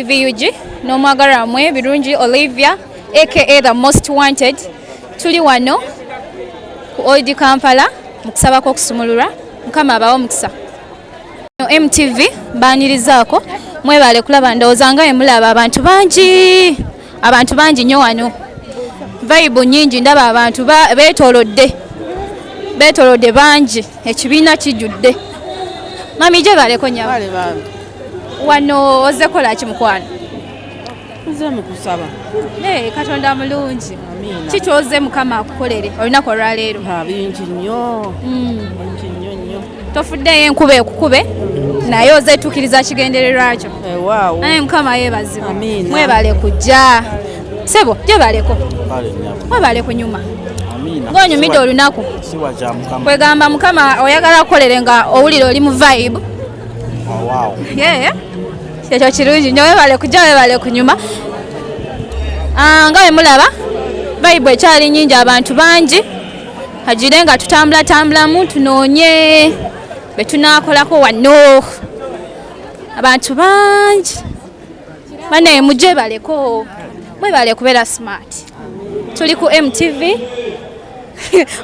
VUG n'omwagala wamwe Birungi Olivia aka the most wanted tuli wano ku Old Kampala mu kusaba kw'okusumululwa mukama abawo mukisa no MTV baanirizaako mwebale kulaba ndowooza nga emulaba abantu bangi abantu bangi nnyo wano vayibu nyingi ndaba abantu betolodde betolodde bangi ekibiina kijjudde mami gyebaleko nya wano oze kolaki mukwano katonda mulungi kikyoze mukama akukolere olunaku olwaleero bingi nnyo mm. tofuddeyo enkuba ekukube naye ozetukiriza kigendererwa kyo eh, naye mukama yebazibwa mwebale kujja sebo jebaleko mwebale kunyuma ngaonyumidde olunaku kwegamba mukama oyagala kukolere nga owulire oli mu vibe oh, ekyo kirungi nyo webale kujja webale kunyuma ah, nga wemulaba vibe ekyali nyingi abantu bangi hajire nga tutambula tambulamu tunoonye be tunaakolako wanno abantu bangi banaye mujje baleko mwebale kubeera smart tuli ku mtv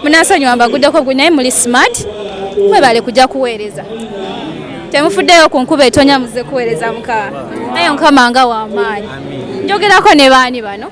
munasonyiwa mbaguddeko gwe naye muli smart mwebale kujja kuweereza temufuddeyo ku nkuba etonya muze kuweereza mukama naye mukama nga wamaanyi njogerako ne baani bano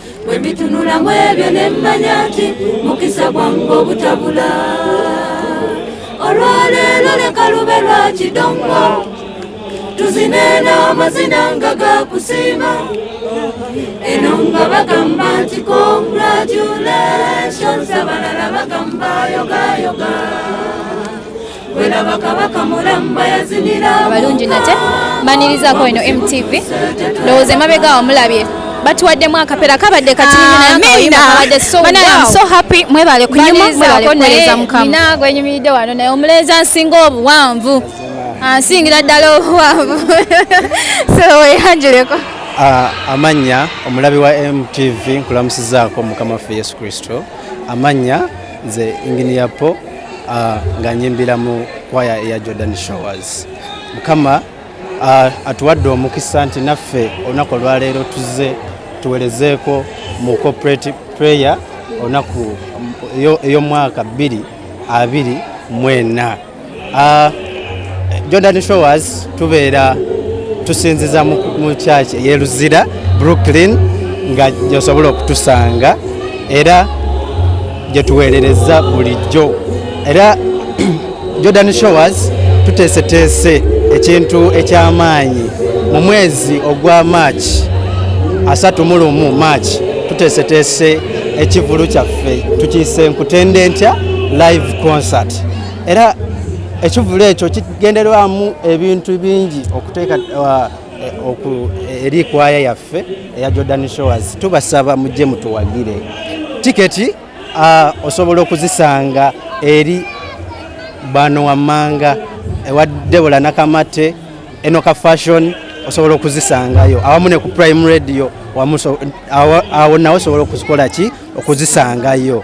bwe mbitunula mu ebyo ne mmanya nti mukisa gwange obutabula olwaleero leka lube lwa kidongo tuzine n'amazina nga gakusiima eno nga bagamba nti congratulations abalala bagamba yogayoga abalungi nate mbanirizaako eno mtv ndowooza emabega wamulabye batuwaddemu akapera kabadde katinaabadde mwebale kunyumakuweereza mukama gwenyumiridde wano naye omulenza nsinga obuwanvu ansingira ddala obuwanvu soweyanjuleko ah, amannya omulabi wa mtv nkulamusizaako mukama waffe yesu kristo amannya nze inginiyapo uh, nga nyimbira mu kwaya eya Jordan Showers mukama uh, atuwadde omukisa nti naffe olunaku olwaleero tuze tuwerezeeko mu corporate prayer olunaku ey'omwaka bbiri abiri mwena uh, Jordan Showers tubeera tusinziza mu kyaki eyeluzira Brooklyn nga gyosobola okutusanga era gye tuweerereza bulijjo era Jordan Showers tuteeseteese ekintu eky'amaanyi mu mwezi ogwa March asatu mu lumu March tuteeseteese ekivulu kyaffe tukiyise nkutende ntya live concert era ekivulu ekyo kigenderwamu ebintu bingi okuteeka uh, eh, eh, eri kwaya yaffe eya Jordan Showers tubasaba mujje mutuwagire tiketi uh, osobola okuzisanga eri bano wammanga ewa Debola Nakamate Enoka Fashion osobola okuzisangayo awamu ne ku Prime Radio awo nawe osobola okuzikola ki okuzisangayo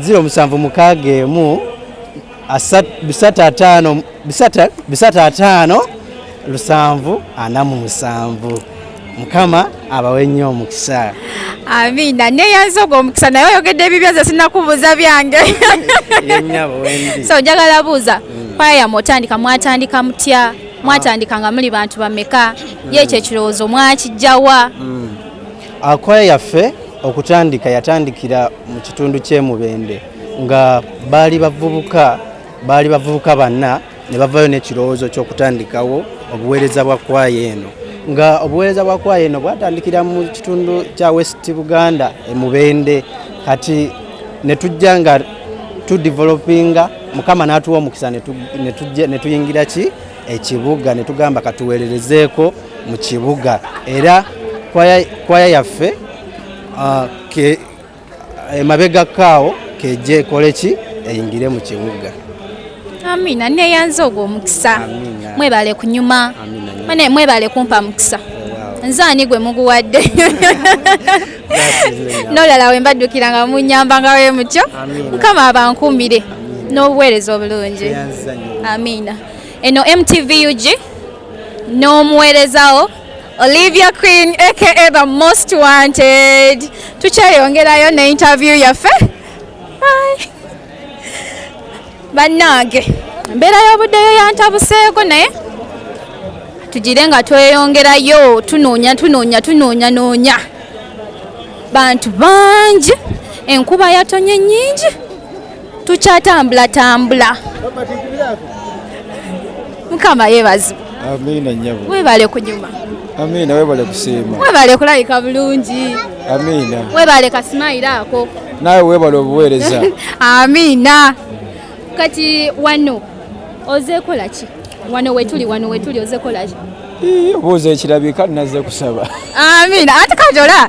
ziro musanvu mukaaga emu bisatu ataano bisatu ataano lusanvu ana mu musanvu mukama abawe nnyo omukisa amiina neyanza ogwo omukisa naye oyogedde ebibyo nze sinakubuuza byange so njagala buuza mm. kwaya yamwe otandika mwatandika mutya ah. mwatandika nga muli bantu bameka ye ekyo ekirowoozo mwakijjawa mm. Akwaya yaffe okutandika yatandikira mu kitundu ky'e Mubende nga baali bavubuka baali bavubuka banna ne bavayo n'ekirowoozo ky'okutandikawo obuweereza bwa kwaya eno nga obuweereza bwa kwaya eno bwatandikira mu kitundu kya west buganda emubende kati ne tujja nga tudevelopinga mukama n'atuwa omukisa ne tuyingira ki ekibuga ne tugamba katuweererezeeko mu kibuga era kwaya yaffe uh, emabega kaawo kejja ekole ki eyingire mu kibuga amina neyanze ogwo omukisa mwebale kunyuma mwebale kumpa mukisa nze ani gwe muguwadde nolala we mbaddukira nga munyamba nga we mutyo mukama abankumbire n'obuweereza obulungi amiina eno mtvug n'omuweerezawo olivia queen aka the most wanted tukyeyongerayo ne interview yaffe bannange embeera y'obuddeyo yantabuseeko naye tugire nga tweyongerayo tunoonya tunoonya tunoonya noonya bantu bangi enkuba yatonye nyingi tukyatambula tambula mukama yebazi amina nyabo webale kunyuma amina webale kusiima webale kulabika bulungi amina webale kasimayiro ako nawe webale obuweereza amina kati wano ozekola ki wano wetuli wano wetuli ozekola ki obuuza ekirabika naze kusaba amina ate kati ola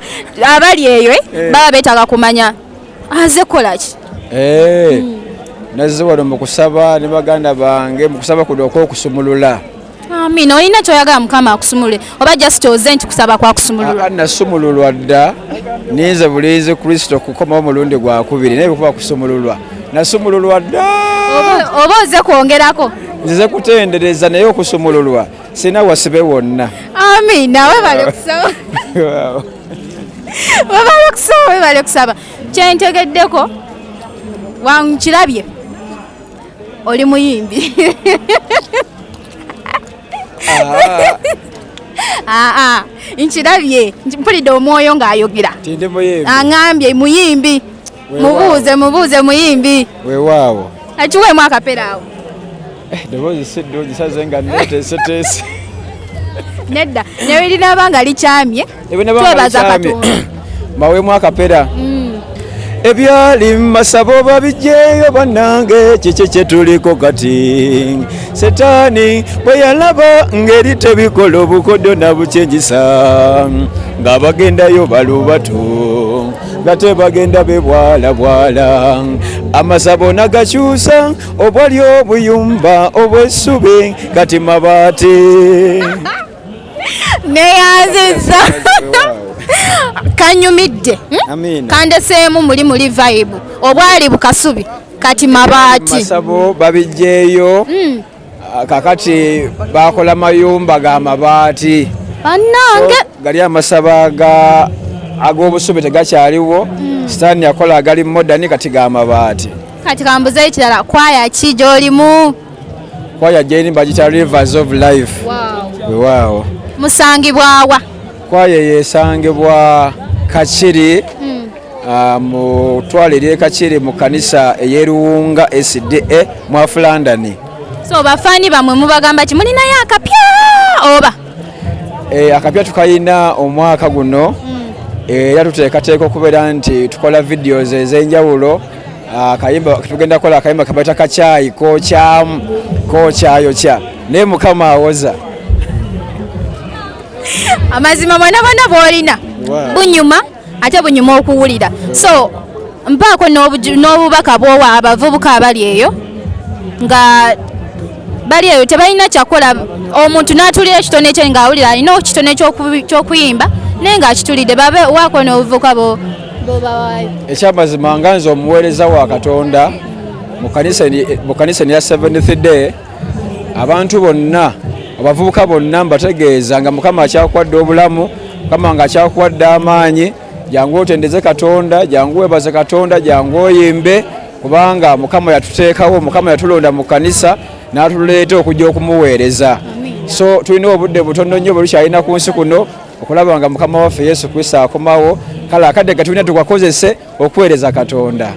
abali eyo eh? eh. baba betaaga kumanya aze kolaki eh, hmm. nazze wano mu kusaba ne baganda bange mu kusaba kuno okwokusumulula amina olina kyoyagala mukama akusumulule oba just oze nti kusaba kwakusumulula nasumululwa dda ninze bulinzi kristo kukomawo omulundi gwakubiri naye bikuba kusumululwa nasumululwa dda oba oze kwongerako nzize kutendereza naye okusumululwa sina wasibe wonna amina webale kusaba webale okusaba webale okusaba kyentegeddeko wankirabye oli muyimbi ah, ah, nkirabye mpulidde omwoyo ng'ayogera aŋambye muyimbi mubuuze mubuuze muyimbi wewaawo akiweemu akapera awo eh, eddoboozi si ddungi saze nga neteeseteese nedda naye linaaba nga likyamye twebaza katonda mbaweemu akapera mm. ebyali masabo babijjeeyo bannange kiki kyetuliko kati setaani bwe yalaba ngeri tebikola obukodyo nabukyenjisa ng'abagendayo balubatu nate bagenda bebwalabwala amasabo nagakyusa obwali obuyumba obwesubi kati mabaati neyanziza kanyumidde hmm? kandeseemu muli muli vibe obwali bukasubi kati mabaati masabo babijjeeyo hmm. Ah, kakati bakola mayumba ga mabaati banange gali amasaba ga ag'obusubi tegakyaliwo mm. sitaani yakola agali modani kati ga mabaati kati kambuza ekirala kwaya ki gyolimu kwaya gyeni bagita rivers of life wewaawo wow. wow. musangibwawa Kwaya eyo esangibwa Kakiri hmm. ah, mu twale ly'e Kakiri mu kanisa ey'eruwunga SDA mu Afulandani. So bafaani bamwe mubagamba ki mulinayo akapya oba? Eh, akapya tukayina omwaka guno hmm. eh, era tuteekateeka okubeera nti tukola videos ez'enjawulo Ah, akayimba tugenda kola akayimba kabata kachayi kochamu kochayokya naye mukama awoza amazima mwana bana bwolina bunyuma ate bunyuma okuwulira so mpaako n'obubaka bwowa abavubuka abali eyo nga bali eyo tebalina kyakola omuntu n'atulira ekitone kye ng'awulira alina ekitone ky'okuyimba naye ng'akitulidde babe waako n'obuvuka bobawayo ekyamazima nga nze omuweereza wa katonda mu kanisa eya seventh day abantu bonna abavubuka bonna mbategeeza nga mukama akyakwadde obulamu mukama nga akyakwadde amaanyi jangu otendeze katonda jangu webaze katonda jangu oyimbe kubanga mukama yatuteekawo mukama yatulonda mu kanisa n'atuleeta okujja okumuweereza so tulina obudde butono nnyo bwetukyalina ku nsi kuno okulaba nga mukama waffe yesu kristo akomawo kale akadde gatulina tukakozese okuweereza katonda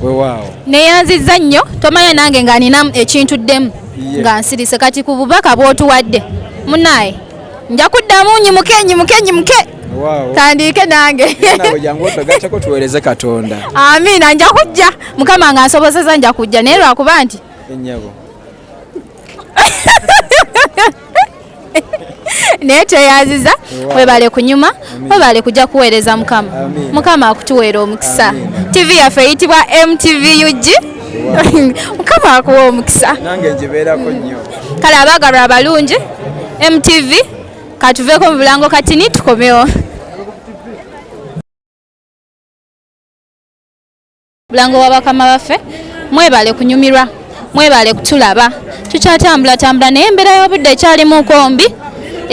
wewaawo neyanzizza nnyo tomanya nange nga ninamu ekintu ddemu nga nsirise kati ku bubaka bwotuwadde munaye nja kuddamu nyimuke nyimuke nyimuke tandiike nange tuwereze katonda amiina nja kujja mukama nga nsobozeza nja kujja naye lwakuba nti naye tweyaziza webale kunyuma webale kujja kuweereza mukama mukama akutuweera omukisa tv yaffe eyitibwa mtv ug mukama akuwa omukisa kale abaagalwa abalungi mtv katuveeko mu bulango katini tukomewo bulango wa bakama baffe mwebale kunyumirwa mwebale kutulaba tukyatambula tambula naye embeera y'obudde ekyalimu kombi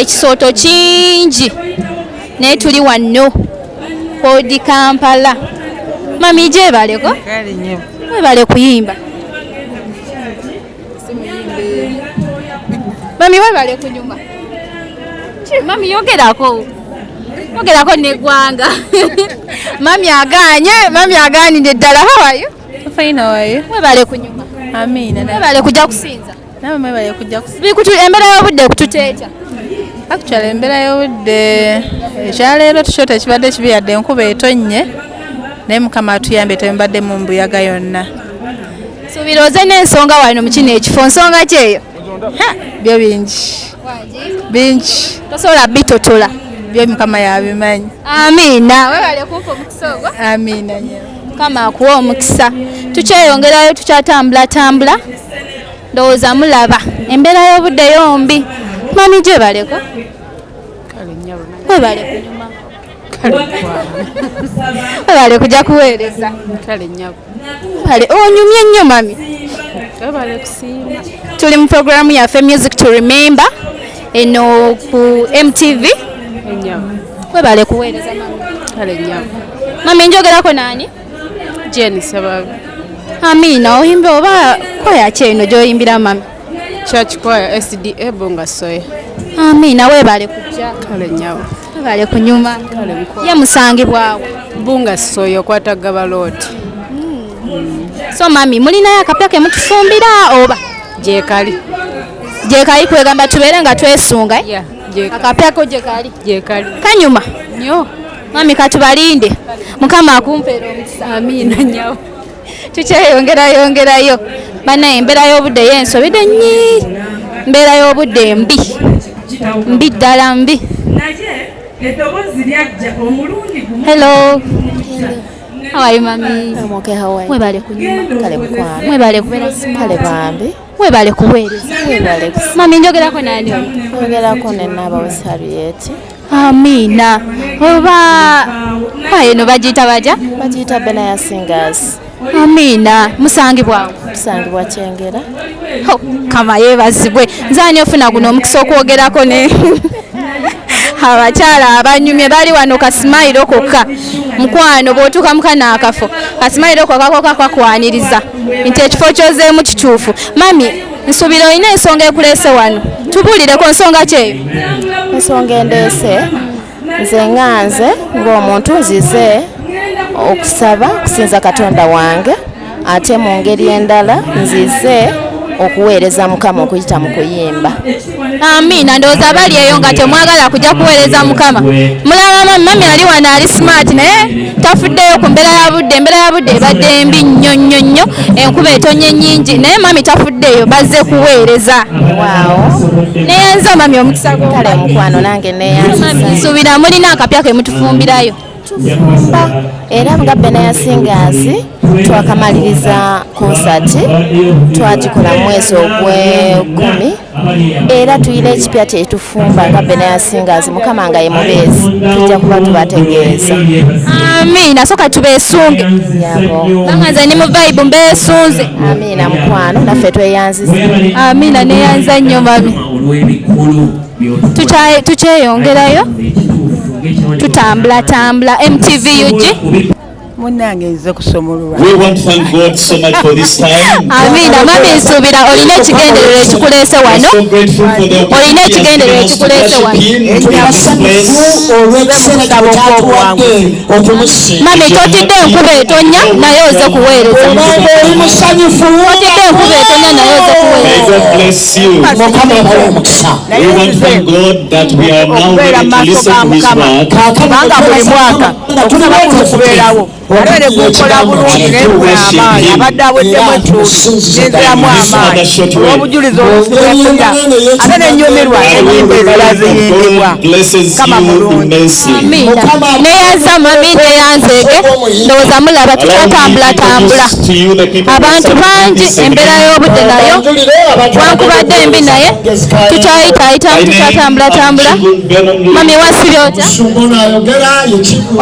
ekisooto kingi naye tuli wanno kodi kampala mami gyebaleko mwebale kuyimba mami webale kunyuma mami yogerako yogerako negwanga mami aganye mami aganide ddala hawayo fayina wayo webale kunyuma amiina webale kujja kusinza nawe mwebale kujja kusinza embeera y'obudde kututeeta actually embeera y'obudde ekyaleero tukyo tekibadde kibi yadde enkuba etonnye naye mukama atuyambe tembadde mu mbuyaga yonna suubira oze n'ensonga wano mu kino ekifo nsonga kyeyo byo bingi bingi tosobola bitotola byo mukama yabimanyi amiina webale kumpa omukisa ogwo amiina mukama akuwa omukisa tukyeyongerayo tukyatambulatambula ndowooza mulaba embeera y'obudde yombi mami gyebaleko webaleko Webale kuja kuweereza. Kale nyabo. Webale onyumye oh, nnyo mami. Webale kusiima. Tuli mu programu yaffe Music to Remember eno ku MTV. Nyabo. Webale kuweereza mami. Kale nyabo. Mami njogerako nani? Jane Sababu. Amina oyimba oba kwaya ki eno gy'oyimbira mami? Church Choir SDA Bonga Soya. Amina webale kujja. Kale nyawo. Webale kunyuma. Kale mko. Ye musangibwawo. Bunga Soya kwata gaba lot. Mm. So mami mulina yakapya ke mutufumbira oba je kali. Je kali kwegamba tubere nga twesunga. Eh? Yeah. Je. Akapya ko je kali. Je kali. Kanyuma. Nyo. Mami katubalinde. Mukama akumpere omukisa. Amina nyawo. tukyeyongerayongerayo banaye embeera y'obudde yo ensobide nyi mbeera y'obudde mbi mbi ddala mbi hello how are you mami mwebale kunyuma kale mukwano mwebale kubeera kale bambi Webale kuweereza. Webale. Mami njogerako nani ono? Njogerako ne Naba Wesariyeti. Amina. Oba ayo no bagiyita baja? Bagiyita Bena ya Singers. Amina. Musangibwa. Musangibwa Kyengera. Kama yebazibwe. Nzani ofuna guno omukisa okwogerako ne abakyala abanyumye bali wano kasimayiro kokka mukwano bwotuuka mukana akafo kasimayiro kokka koka kwakwaniriza nti ekifo kyozeemu kituufu mami nsuubira olina ensonga ekuleese wano tubuulireko nsonga kyeyo ensonga endeese nze nga nze ng'omuntu nzize okusaba okusinza katonda wange ate mu ngeri endala nzize okuweereza mukama okuyita mu kuyimba amiina ndowooza bali eyo nga temwagala kujja kuweereza mukama mulaba mami ali wano ali smart naye tafuddeyo ku mbeera ya budde embeera ya budde ebadde mbi nnyo nnyo nnyo enkuba etonye nyingi naye mami tafuddeyo bazze kuweereza neyanza mami omukisa kale mukwano nange neyanza nsuubira mulina akapya ke mutufumbirayo tufumba era nga benayasingaazi twakamaliriza konsati twagikola mu mwezi ogwekumi era tulina ekipya kyetufumba nga benayasingaazi mukama nga yemubeezi tujja kuba tubategeeza amiina soka tubesunge yabonga nze ni muvaibu mbesunze amiina mukwano naffe tweyanziza amiina neyanza nnyo mami tukyeyongerayo tutambulatambula mtv ug munange nze kusomolwa amiina mami nsuubira olina ekigendererwa ekikuleese wano olina ekigendererwa ekikuleese wano mami totidde enkuba etonya naye oze kuweereza otidde enkuba etonya naye oze kuweereza kubanga buli mwaka okusaba kuno kubeerawo ate ne gukola bulungi naye gwe amaanyi abadde aweddemu ettuuti nenziramu amaanyi olw'obujulizi obusigakulira ate nenyumirwa enyimba ezira ziyimbibwa kama mulungi neyanzama mi neyanzeege ndowooza mulaba tukyatambulatambula abantu bangi embeera y'obudde nayo wankubadde embi naye tukyayitaayitamu tukyatambulatambula mami wasiri otya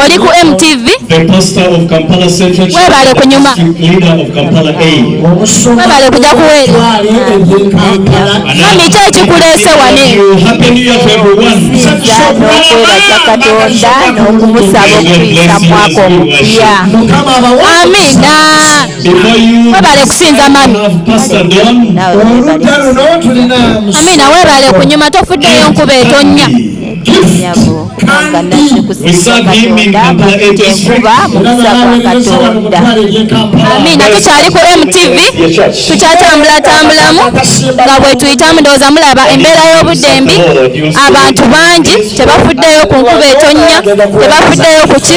oli ku mtv webale kunyuma webale kuja kuweereza mami ki ekikuleese wane n'okwebaza katonda n'okumusaba okuyisa mwaka omupya amina webale kusinza mami amina webale kunyuma tofuddeyo nkuba etonya amina tukyali ku mtv tukyatambulatambulammu nga bwetuyitamu ndowooza mulaba embeera y'obudde mbi abantu bangi tebafuddeyo ku nkuba etonnya tebafuddeyo kuki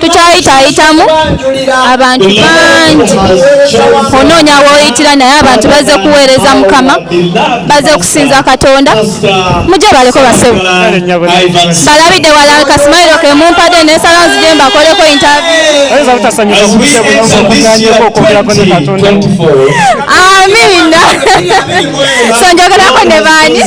tukyayitaayitamu abantu bangi onoonya woyitira naye abantu baze kuweereza mukama baze kusinza katonda mujje baleko basebo balabidde wala kasimairo kemumpade nesala nzije mbakoleko intaamiina sonjogerako ne baani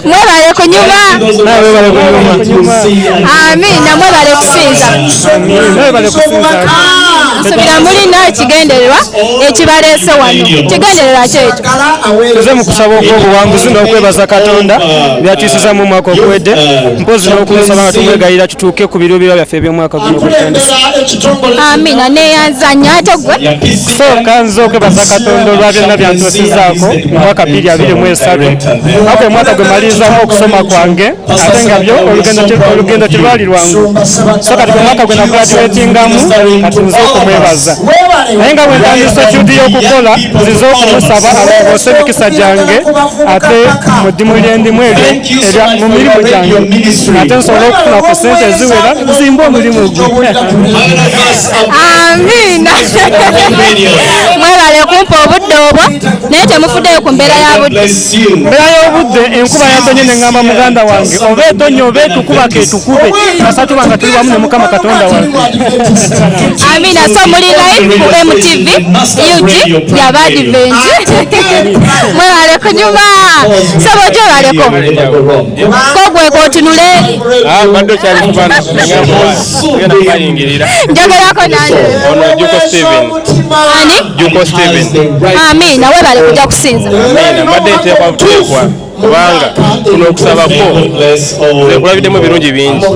mwebale kunyuma amina mwebale kusinza nsubira mulina ekigendererwa ekibaleese wano kigendererwa kyekyo tuze mu kusaba okw'obuwanguzi n'okwebaza katonda byatuusiza mu mwaka oguwedde mpozi n'okumusaba nga tumwegayira tutuuke ku biruubirwa byaffe eby'omwaka amina neyanzanya ate gwe sooka nzooke baza katonda olwa byonna byantuusizaako mwaka bbiri abiri mu esatu ako omwaka gwe malirizamu okusoma kwange ate nga byo olugendo terwali lwangu so kati gwe mwaka gwe nagraduatingamu kati nze okumwebaza naye nga bwentandisa ekyudi y'okukola nzize okumusaba alongoose emikisa gyange ate mu ddimu lyendimu eryo mu mirimu gyange ate nsobole okufuna ku sente eziwera zimba omulimu gwe amiina mwebale kumpa obudde obwo naye temufuddeyo ku mbeera ya budde mbeera y'obudde enkuba yatonye ne ŋŋamba muganda wange oba etonye oba etukuba ketukube kasatu banga tuli wamu ne mukama katonda wange amiina so muli live ku mtv ug yabadiventi mwebale kunyuma sebo gyebaleko kogwe kotunule ah, mbadde okyali kubana njagalako nanjeamina webale kuja kusinza mbadde nteekwa buteekwa kubanga kuno okusabako nze nkulabiddemu ebirungi bingi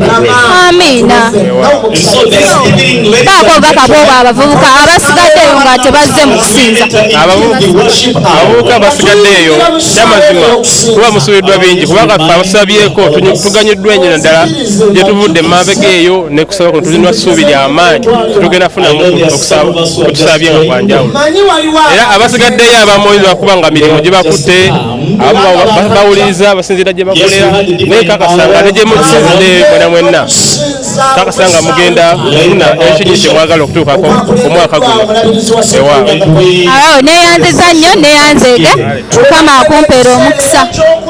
amiina bakoga kabooba abavubuka abasigaddeyo nga tebazze mu kusinza abavubuka abasigaddeeyo kyamazima kuba musubiddwa bingi kubanga ffe abasabyeko tuganyiddwa enyo naddala gye tuvudde emabega eyo nekusaba kuno tulina ssuubi lyamaanyi tetugenda funamu kutusabye nga kwanjawulo era abasigaddeyo abamoyi lwakuba nga mirimu gye bakutte abo bawuliriza abasinziira gye bakolera naye kakasanga ne gye mukisinzidde mwena mwenna kakasanga mugenda kufuna ekinyi kye mwagala okutuukako omwaka guno ewa awo neyanziza nnyo neyanzeege mukama akumpeera omukisa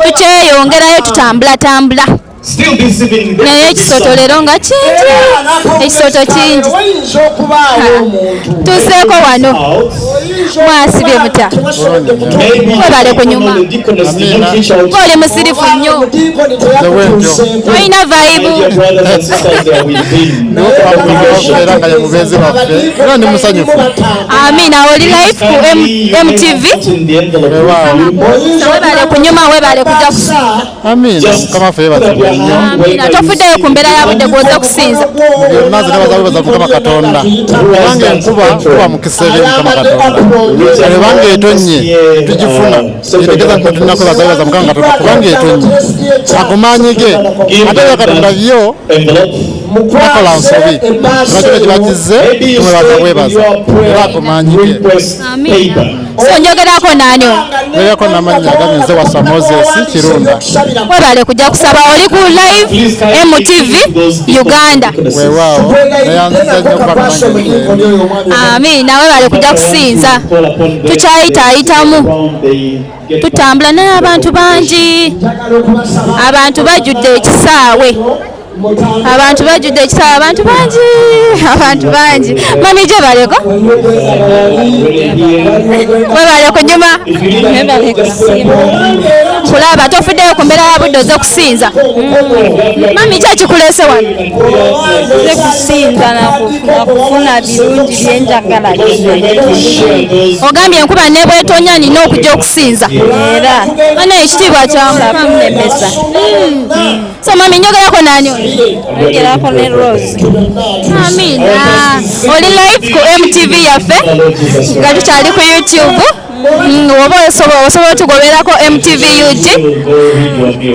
tukyeyongerayo tutambulatambula naye ekisoto leero nga kingi ekisoto kingi tuseeko wano mwasibye mutya webale kunyuma oli musirifu nnyo olina vaibu amina oli life ku mtv webale kunyuma webale kuja Amina mukama ffe yeebazibwe nnyo. Amina tofuddeyo ku mbeera ya budde gw'oze okusinza. Byonna zino baza bebaza mukama Katonda kubanga enkuba kuba mukisa eri mukama Katonda ebanga etonnye tugifuna kitegeeza nti tulinako baza bebaza mukama Katonda kubanga etonnye ago maanyi ge ate bya Katonda byo bakola nsobi bakyo kye bakizze mwebaza bwebaza era ago maanyi ge. Amina. so njogerako naani njogerako namannya gagenze wasa moses kirunda webale kujja kusaba oli ku live mtv uganda wewaawo neyanziza nnyo kuba ami nawe bale kujja kusinza tukyayitaayitamu tutambula naye abantu bangi abantu bajjudde ekisaawe abantu bajjudde ekisaawe abantu bangi abantu bangi mami gye baleko webale kunyuma kulaba tofuddeyo ku mbeera ya budde oze kusinza mami ki ekikulese wano ze kusinza nakufuna birungi byenjagala ogambye enkuba nebwetonya nina okujja okusinza era bana ekitiibwa kyamunemesa So mami njogerako nani oyo? Njogerako ne Rose. Amina. Oli live ku MTV yaffe nga tukyali ku YouTube. Mm, oba osobola osobola otugoberako MTV UG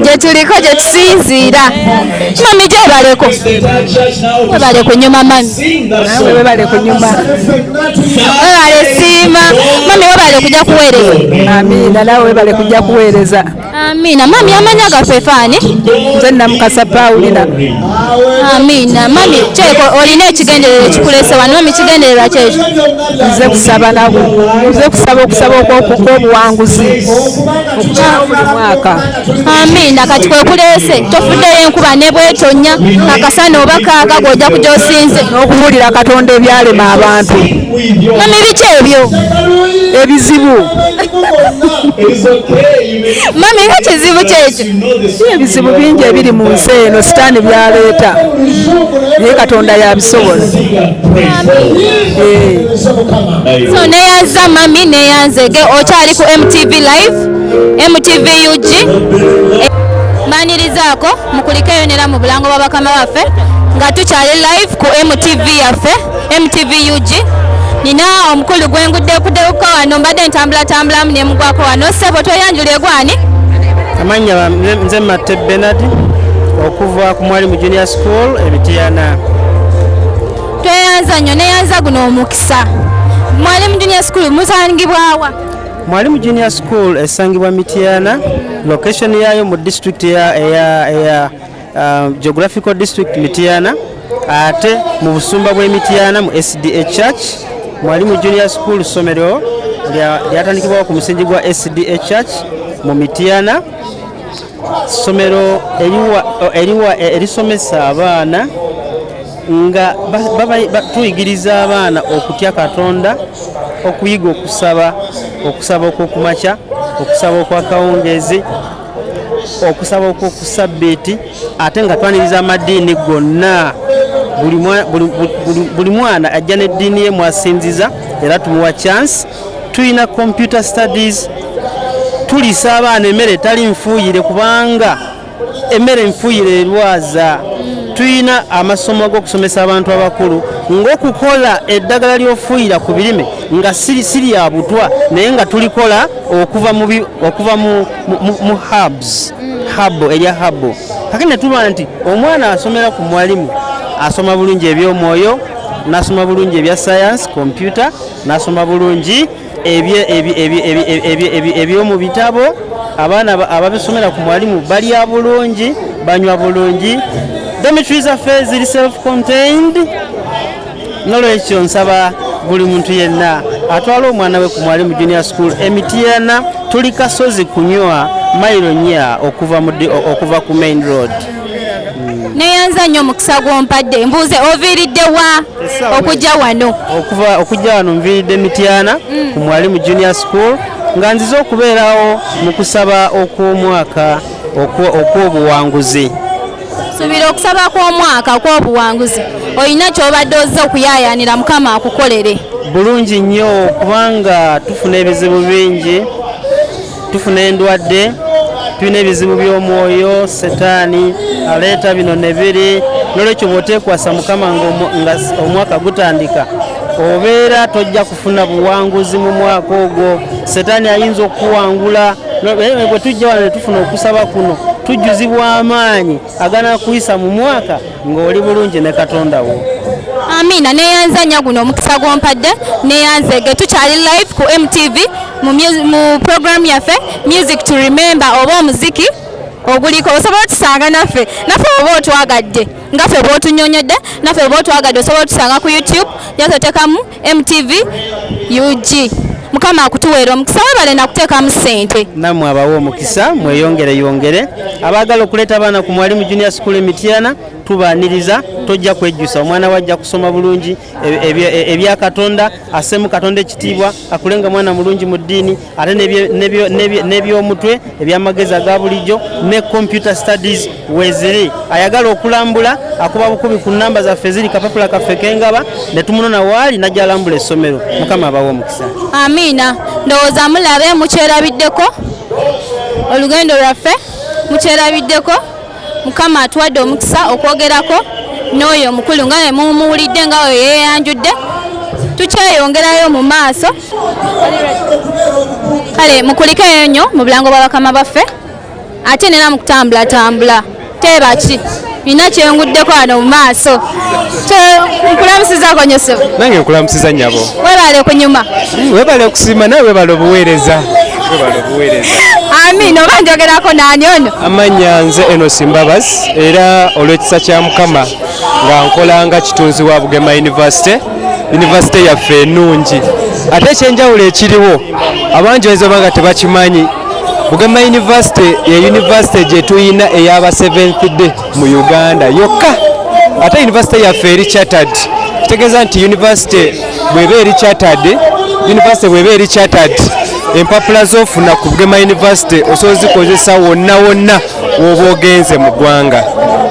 gye tuliko gye tusinziira. Mami gyebaleko. Webale kunyuma mami. Nawe webale kunyuma. Webale siima. Mami webale kujja kuweereza. Amina nawe webale kujja kuweereza. Amina. Mami amanya gaffe faani. Nze namukasa Paulina. Amina. Mami kyeko olina ekigendererwa ekikulese wano mami kigendererwa kyekyo. Nze kusaba nabo. Nze kusaba okusaba okw'obuwanguzi. Mwaka. Amina. Kati kwekulese tofuddeyo enkuba ne bwetonya akasana oba kaaga gw'ojja kujya osinze. N'okubuulira Katonda ebyalema abantu. mama ebiki ebyo ebizibu mama era kizibu kyekyo ebizibu bingi ebiri mu nsi eno sitaani byaleeta naye katonda yabisobola eh. so neyanza mami neyanzege okyali ku mtv live mtv ug mbanirizaako mukulikeyo nera mu bulango bwa bakama baffe nga tukyali live ku mtv yaffe mtv ug nina omukulu gwenguddekudeuka wano mbadde ntambulatambulamu nemugwako wano sebo tweyanjula egwani amanya nze matte benard okuva ku mwali mu junior school ebitiyana tweyanza nnyo neyanza guno omukisa mwali mu junior school musangibwawa mwali mu junior school esangibwa mityana location yayo mu district eya uh, geographical district Mityana ate mu busumba bw'e Mityana mu SDA Church mwali mu junior school ssomero lyatandikibwawo ku musingi gwa SDA Church mu Mityana ssomero eriwa eh, erisomesa abaana nga tuyigiriza abaana okutya Katonda okuyiga okusaba okusaba okwokumakya okusaba okwakawungeezi okusaba okwoku sabbiiti ate nga twaniriza amadiini gonna buli mwana ajja n'eddiini ye mwasinziza era tumuwa chance tulina computer studies tulisa abaana emmere etali nfuuyire kubanga emmere nfuuyire erwaza tulina amasomo ag'okusomesa abantu abakulu ng'okukola eddagala ly'ofuuyira ku birime nga siri ya butwa naye nga tulikola okuva mu mu habs habo erya habo kake netuba nti omwana asomera ku mwalimu asoma bulungi ebyomwoyo nasoma bulungi ebya science kompyuta nasoma bulungi ebyomu bitabo abaana ababisomera ku mwalimu balya bulungi banywa bulungi domitri zaffe ziri self contained nolwekyo nsaba buli muntu yenna atwala omwana we ku mwalimu junior school emityana tuli kasozi kunywa mailo nya okuva, okuva ku main road hmm. neyanza nnyo omukisa gwompadde mbuuze oviiridde wa okujja wano okuva okujja wano nviiridde mityana hmm. ku mwalimu junior school nga nzize okubeerawo mu kusaba okw'omwaka okw'obuwanguzi subira okusaba kw'omwaka okw'obuwanguzi olina ky'obadde ozze okuyaayaanira mukama akukolere bulungi nnyo kubanga tufuna ebizibu bingi tufuna endwadde tulina ebizibu by'omwoyo setaani aleeta bino ne biri n'olwekyo bw'oteekwasa mukama nga omwaka gutandika obeera tojja funa buwanguzi mu mwaka ogwo setaani ayinza okukuwangula bwe tujja wano netufuna okusaba kuno tujjuzibwa amaanyi agana kuyisa mu mwaka ng'oli bulungi ne katonda wo amiina neyanza nya guno omukisa gwompadde neyanzege tukyali live ku mtv mu program yaffe music to remember oba omuziki oguliko osobola otusanga naffe naffe oba otwagadde nga fe oba otunyonyodde naffe oba otwagadde osobola otusanga ku youtube yasotekamu MTV UG mukama akutuweera omukisa webale nakuteekamu ssente namwe abawa omukisa mweyongere yongere abaagala okuleeta abaana ku mwalimu junior school emityana tubaaniriza tojja kwejjusa omwana we ajja kusoma bulungi ebya e, e, katonda assemu katonda ekitiibwa akulenga mwana mulungi mu ddiini ate n'ebyomutwe ebyamagezi aga bulijjo ne computer studies weziri ayagala okulambula akuba bukubi ku namba zaffe ziri kapapula kaffe kengaba ne tumunona waali najja alambula essomero mukama abawa omukisa amiina ndowooza mulabe mukyerabiddeko olugendo lwaffe mukyerabiddeko mukama atuwadde omukisa okwogerako n'oyo omukulu nga we mumuwulidde nga oyo yeyanjudde tukyeyongerayo mu maaso kale mukulikeyo nnyo mu bulango bwa bakama baffe ate nera mu kutambulatambula teebaki nina kyenguddeko wano mu maaso nkulamusizako nyo sebo nange nkulamusiza nyabo webale kunyuma hmm, webale kusiima nawe webale obuweereza webale obuweereza amiina oba njogerako naani ono amannya nze eno simbabazi era olw'ekisa kya mukama nga nkolanga kitunzi wa bugema yunivasite yunivasite yaffe enungi ate ekyenjawulo ekiriwo abangi oyinza oba nga tebakimanyi bugema yunivasite ye yunivasite gyetuyina eyaba seventh day mu uganda yokka ate yunivasite yaffe eri chattered kitegeeza nti yunivasite bweba eri chattered yunivasite bweba eri chattered empapula zofuna ku bugema yunivasite osobola zikozesa wonna wonna oba ogenze mu ggwanga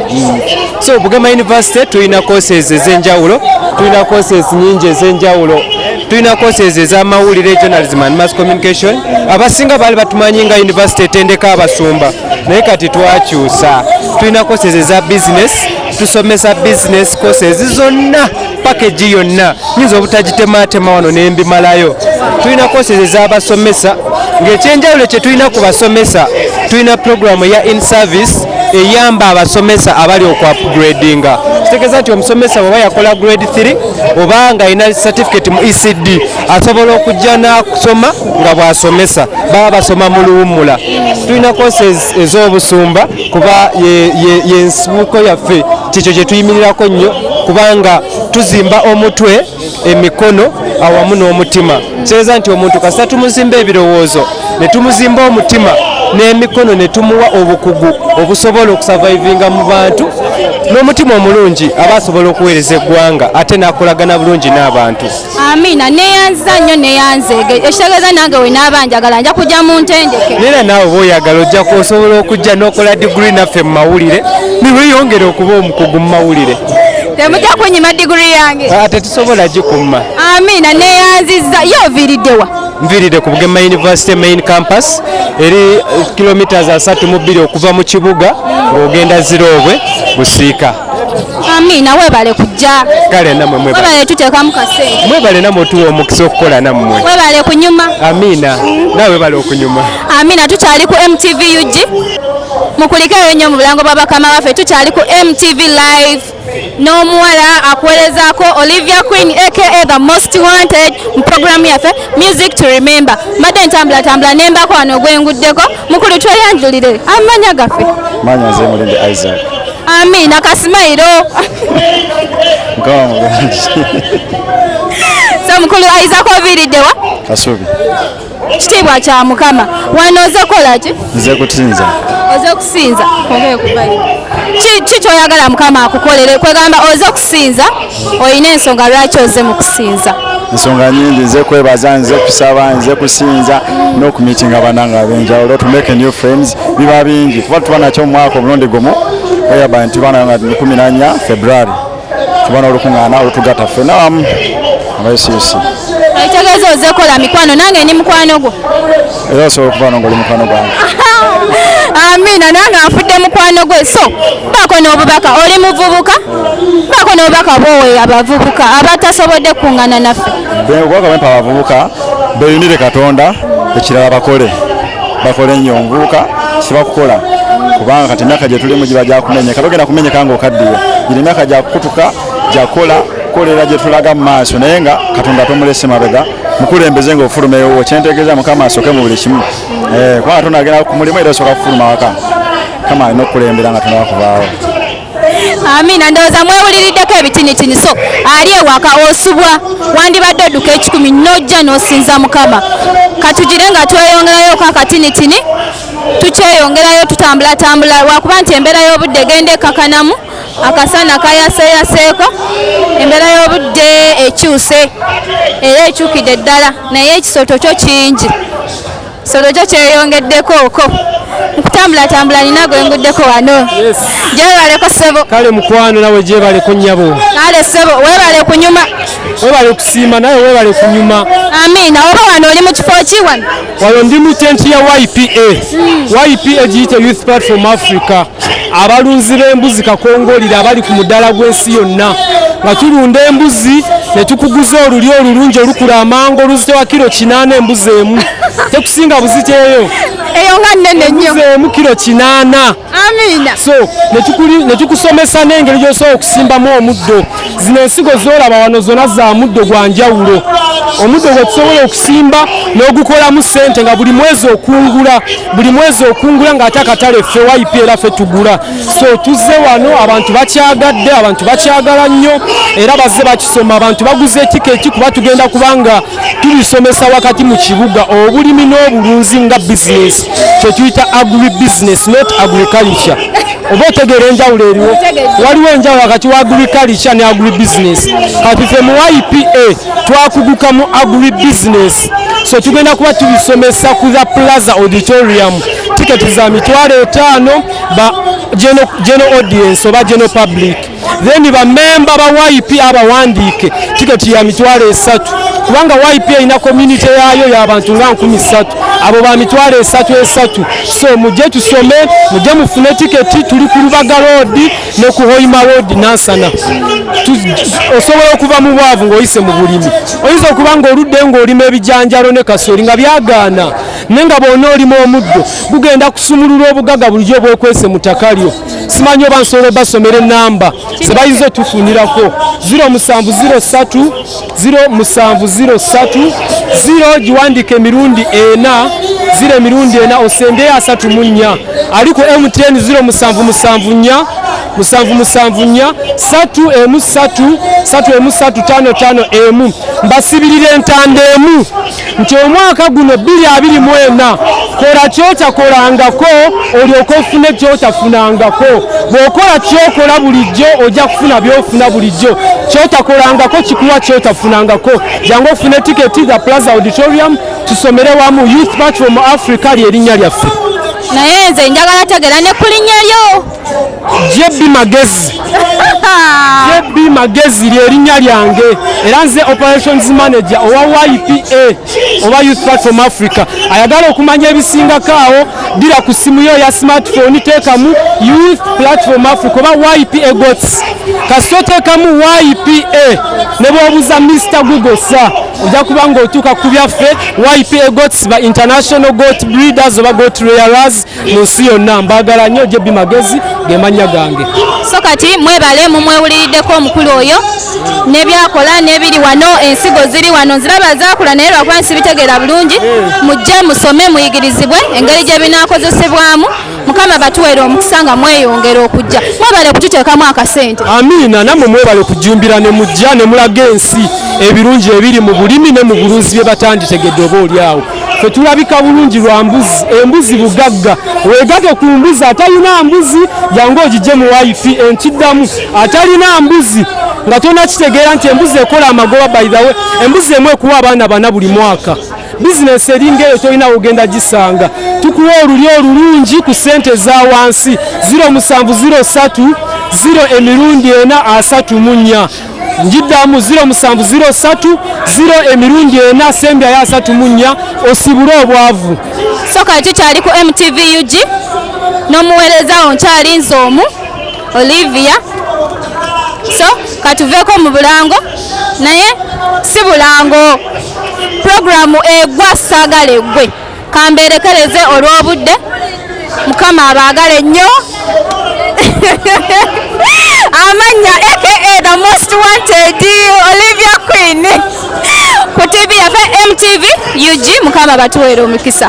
hmm. so bugema university tulina courses ez'enjawulo tulina courses nyingi ez'enjawulo tulina courses ez'amawulire journalism and mass communication abasinga baali batumanyi nga university etendeka abasumba naye kati twakyusa tulina courses eza business tusomesa business courses zonna pakeji yonna nyinza obutagitemaatema wano nembimalayo tulina koseze ez'abasomesa ng'ekyenjawulo kye tulina ku basomesa tulina puroguramu ya in service eyamba abasomesa abali okuapgradinga kitegeeza nti omusomesa bwaba yakola grade 3 oba nga alina certificate mu ecd asobola okujja n'akusoma nga bw'asomesa baba basoma mu luwummula tulina courses ez'obusumba kuba yensibuko yaffe kyekyo kye tuyimirirako nnyo kubanga tuzimba omutwe emikono awamu n'omutima kireeza nti omuntu kasita tumuzimba ebirowoozo ne tumuzimba omutima n'emikono ne tumuwa obukugu obusobola okusavaivinga mu bantu n'omutima omulungi aba asobola okuweereza eggwanga ate n'akolagana bulungi n'abantu Amina neyanziza nnyo neyanzeege ekitegeeza nange we naaba njagala nja kujja mu ntendeke era naawe oba oyagala ojja kuosobola okujja n'okola diguli naffe mu mawulire niweyongere okuba omukugu mu mawulire temujja kunyima diguli yange ah, tetusobola gikumma amina neyanziza ye oviiriddewa nviiride ku bugema university main campus eri kilometres asatu mu bbiri okuva mu kibuga ng'ogenda ziroobwe busiika Amina webale kujja. Kale namwe mwebale. Webale tutekamu kasente. Mwebale namwe tuwa omukisa okukola namwe. Webale kunyuma. Amina. Mm. Nawe webale okunyuma. Amina tukyali ku MTV UG. Mukulikeyo nnyo mu bulango bwa bakama baffe tukyali ku MTV live n'omuwala akuwerezaako Olivia Queen aka the most wanted mu programu yaffe music to remember. Mbadde ntambulatambula nembako wano ogwenguddeko. mukulu tweyanjulire amanya gaffe manya nze mulinde isaac amina kasimairo mukama mulungi so mukulu isaac oviiriddewa kasubi kitiibwa kya mukama wano oze kola ki nze kutinza oze kusinza kiki kyoyagala mukama akukolere kwegamba oze kusinza olina ensonga lwaki oze mu kusinza ensonga nyingi nze kwebaza nze kusaba nze kusinza n'okumitinga banange ab'enjawulo to make new friends biba bingi kuba tuba nakyo mu mwaka omulundi gumu oyaba nti bana nga kumi nanya february tuba n'olukuŋŋaana olutugata ffe nawamu abaisiisi ekitegeeza ozekola mikwano nange ndi mukwano gwo era osobola okuvaano ngaoli mukwano gwange amiina nange afudde mukwano gwe so baako n'obubaka oli muvubuka baako n'obubaka bwowe abavubuka abatasobodde kukuŋŋana naffe obubaka bwempa abavubuka beyunire katonda ekirala bakole bakole nnyo omuvubuka sibakukola kubanga kati emyaka gye tulimu giba gyakumenye kati ogenda kumenyeka nga okaddiye giri emyaka gyakukutuka gyakola kukolera gye tulaga mu maaso naye nga katonda tomulese mabega mukulembeze nga ofuluma ewowo kyentegeeza mukama asoke mu buli kimu eh, kubanga tonagenda ku mulimu era osoka kufuluma waka mukama alina okukulembera nga tonakuvaawo amina ndowooza mwewuliriddeko ebitinitini so ali ewaka osubwa wandibadde odduka ekikumi nojja nosinza mukama katugire nga tweyongerayoko akatinitini tukyeyongerayo tutambulatambula lwakuba nti embeera y'obudde genda ekakanamu akasana kayaseeyaseeko embeera y'obudde ekyuse era ekyukidde ddala naye ekisooto kyo kingi kisooto kyo kyeyongeddeko oko okutambulatambula nina gwe nguddeko wano gyebaleko ssebo kale mukwano nawe gyebaleko nnyabo kale ssebo webale kunyuma webale okusiima nawe webale kunyuma amiina oba wano oli mu kifo ki wano wano ndi mu tenti ya ypa ypa giyite youth platform africa abalunzi b'embuzi kakongolira abali ku mudaala gw'ensi yonna nga tulunda embuzi ne tukuguza olulyo olulungi olukula amangu oluzitowa kiro kinaana embuzi emu tekusinga buziteeyo eyo nga nnene nnyo embuzi emu kiro kinaana amiina so nekikusomesa n'engeri gy'osobola okusimbamu omuddo zino ensigo zolaba wano zona za muddo gwa njawulo omuddo gwe tusobola okusimba n'ogukolamu ssente nga buli mwezi okungula buli mwezi okungula ng'ate akatale ffe wayipi era ffe tugula so tuzze wano abantu bakyagadde abantu bakyagala nnyo era bazze bakisoma abantu baguze etiketi kuba tugenda kubanga tulisomesa wakati mu kibuga obulimi n'obulunzi nga bizinesi kyetuyita agri business not agriculture oba otegeera enjawulo eriwo waliwo enjawulo wakati wa agriculture ne agri business kati fe mu ipa twakuguka mu agri business so tugenda kuba tubisomesa ku the plaza auditorium tiketi za mitwalo etaano ba general audience oba general public then bamemba ba YP abawandiike tiketi ya mitwalo esatu kubanga YP erina community yaayo y'abantu nga nkumi ssatu abo ba mitwalo esatu esatu so mujje tusome mujje mufune tiketi tuli ku lubaga roodi ne ku hoima roodi nansana osobola okuva mu bwavu ng'oyise mu bulimi oyinza okuba ng'oludde ng'olima ebijanjalo ne kasooli nga byagaana naye nga bwona olima omuddo gugenda kusumulula obugaga bulijjo bwekwese mu ttaka lyo simanyi oba nsobola obasomera enamba zebayinza otufunirako 0703 0703 0 giwandika emirundi ena zira emirundi ena osembeyo asatu mu nnya ali ku mtn 0 musanvu musanvu nnya musanvu musanvu nnya satu emu satu satu emu satu tano tano emu mbasibirira entanda emu nti omwaka guno bbiri abiri mu ena kola kyotakolangako olyoka ofune kyotafunangako bwokola kyokola bulijjo ojja kufuna byofuna bulijjo kyotakolangako kikuwa kyotafunangako jangu okufuna etiketi the plaza auditorium tusomere wamu youth batch from africa lyerinnya lyaffe naye nze njagala tegera ne kulinya lyo JB Magezi JB Magezi ly'erinnya lyange era nze operations manager owa YPA oba Youth Platform Africa ayagala okumanya ebisingako awo dira ku simu yo ya smartphone teekamu Youth Platform Africa oba YPA gots kasita oteekamu YPA ne bwobuuza Mr Google sa ojja kuba ng'otuuka ku byaffe YPA gots ba international goat breeders oba goat rearers mu nsi yonna mbaagala nnyo jb magezi ge mannya gange so kati mwebale mumwewuliriddeko omukulu oyo nebyakola nebiri wano ensigo ziri wano nziraba zakula naye lwakuba nsibitegeera bulungi mujje musome muyigirizibwe engeri gye binaakozesebwamu mukama batuweera omukisa nga mweyongera okujja mwebale okututeekamu akasente amiina nammwe mwebale okujumbira ne mujja ne mulaga ensi ebirungi ebiri mu bulimi ne mu bulunzi bye batanditegedde oba oli awo fe tulabika bulungi lwa mbuzi embuzi bugagga wegate ku mbuzi atalina mbuzi jangu ogijje mu wifi enkiddamu atalina mbuzi nga tona kitegeera nti embuzi ekola amagoba by the way embuzi emu ekuwa abaana bana buli mwaka bizinesi eringa eyo tolina wogenda gisanga tukuwa olulyo olulungi ku sente eza wansi 0703 ziro emirundi ena asatu munya njiddamu ziro musanvu ziro satu ziro emirundi ena asembyayo asatu mu nnya osibule obwavu so kati kyali ku mtv ug n'omuweerezawo nkyali nze omu olivia so katuveeko mu bulango naye si bulango puroguramu egwa saagala eggwe kamberekereze olw'obudde mukama abaagale nnyo amannya aka the most wanted olivia queen ku tv yafe mtv ug mukama batuweere omukisa